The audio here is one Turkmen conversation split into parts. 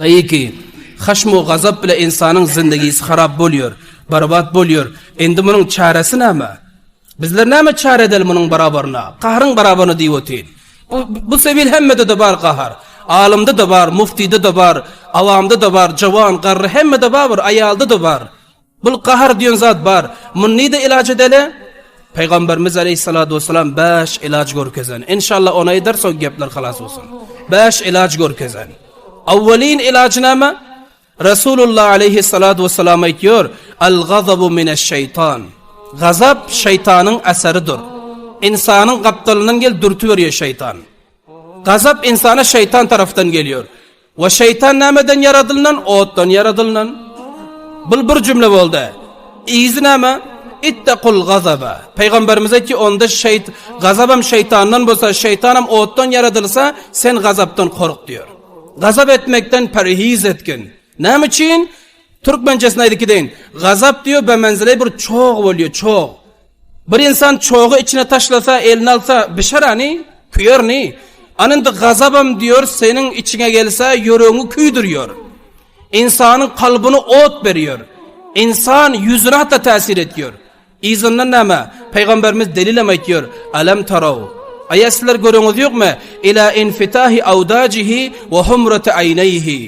Taýyki, haşm-u gazap bile ynsanyň zyndagysi harap bolýar, barbat bolýar. Indi munuň çäresi näme? Bizler näme çäre edeli munuň barabaryna? Gahryň barabaryna diýip otyr. Bu, bu sebil hemmede-de bar gahar. Alymda-da bar, muftyda-da bar, awamda-da bar, jowan, garry hemmede-babyr, aýalda-da bar. Bul gahar diýen zat bar. Muny nide ilaç edeli? Peygamberimiz aleyhissalatu vesselam 5 ilaç görkezen. İnşallah ona eder soň gepler halas olsun. 5 ilaç görkezen. Awwalin ilacı näme? Resulullah aleyhissalatu vesselam aýtýar: "Al-gazabu mineş-şeýtan." Gazap şeýtanyň asaridir. İnsanyň gapdalyndan gel dürtüp berýär şeýtan. Gazap insana şeýtan tarafdan gelýär. We şeýtan nämeden ýaradylnan? Otdan ýaradylnan. Bul bir jümle boldy. Yzy näme? Ittakul gazaba. Peýgamberimiz aýtdy, onda şeýt gazabam şeýtandan bolsa, şeýtanam otdan ýaradylsa, sen gazapdan kork diýer. Gazap etmekden perhiz etgin. Näme üçin? Türkmençesini aýdyp gideýin. Gazap diýer, bemenzile bir çoh bolýar, çoh. Bir insan çogy içine taşlasa, eline alsa, bişer ani, küyer ni. Ana indi gazabam diyor, seniň içiňe gelse, ýüregiňi küýdürýär. Insanyň kalbyny ot berýär. Insan ýüzüne hatda täsir etýär. Yzyndan näme? Pygamberimiz delilem aýtýar, Alam taraw. Aýa sizler göreňiz ýokmy? Ila infitahi awdajihi we humrati aýnaýhi.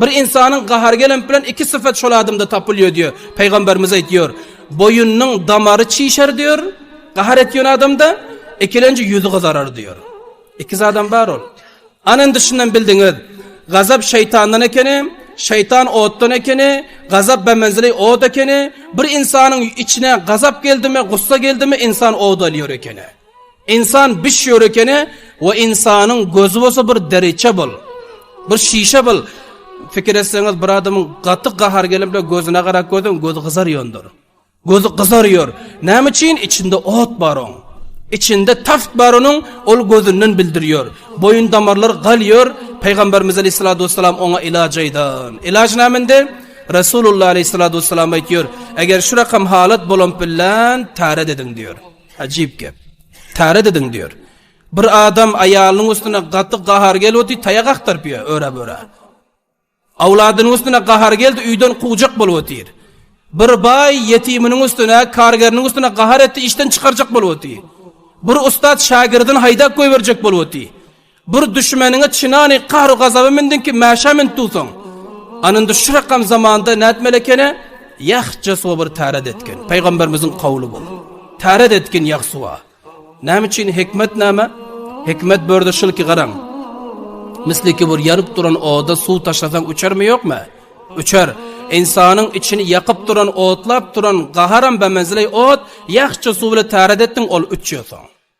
Bir ynsanyň gahary gelenp bilen iki syfat şol adamda tapylýar diýär. Pygamberimiz aýtýar, boýunyň damary çişer diýär, gahar etýän adamda, ikilenji ýüzi gyzarar diýär. Iki zadam bar ol. Ana indi şundan bildiňiz, gazap şeýtandan ekeni, şeýtan otdan ekeni, gazap bemenzili ot ekeni, bir ynsanyň içine gazap geldimi, gussa geldimi, ynsan od alýar ekeni. Insan biş ýörekene we insanyň gözi bolsa bir deriçe bol. Bir şişe bol. Fikir etseňiz bir adamyň gaty gahar gelip de gözüne garak gözün gözi gyzar ýondur. Gözi gyzar ýör. Näme üçin içinde ot bar oň? İçinde taft bar onuň, ol gözünden bildirýär. Boýun damarlar galýar. Peygamberimiz Aleyhissalatu vesselam oňa ilaç aýdan. Ilaç nämende? Resulullah Aleyhissalatu vesselam aýtýar, eger şu rakam halat bolan bilen täret ediň diýär. Ajyp gep. Täret ediň diýer. Bir adam aýalynyň üstüne gaty gahar gelipdi, taýak agtaryp ýör, öre-böre. Awladynyň üstüne gahar geldi, öýden kuwjak bolup otyr. Bir baý ýetiminiň üstüne, kargeriniň üstüne gahar etdi, işden çykarjak bolup otyr. Bir ussat şagirdini haýdap goýberjek bolup otyr. Bir düşmeniňe çynany gahru gazaba mindiňki mäşä mint duwsaň. Ana indi şu rakam zamanda nätmeli ekeni? Ýahja suwa bir täret etgin. Peýgamberimiziň kawly bol. Täret etgin ýah suwa. Näme üçin hikmet näme? Hikmet börde şul ki garaň. Misli ki bir ýanyp duran oda suw taşlasaň uçarmy ýokmy? Uçar. Insanyň içini ýakyp duran otlap duran gaharam bemenzile ot, ýahja suw bilen täret etdiň ol uçýar soň.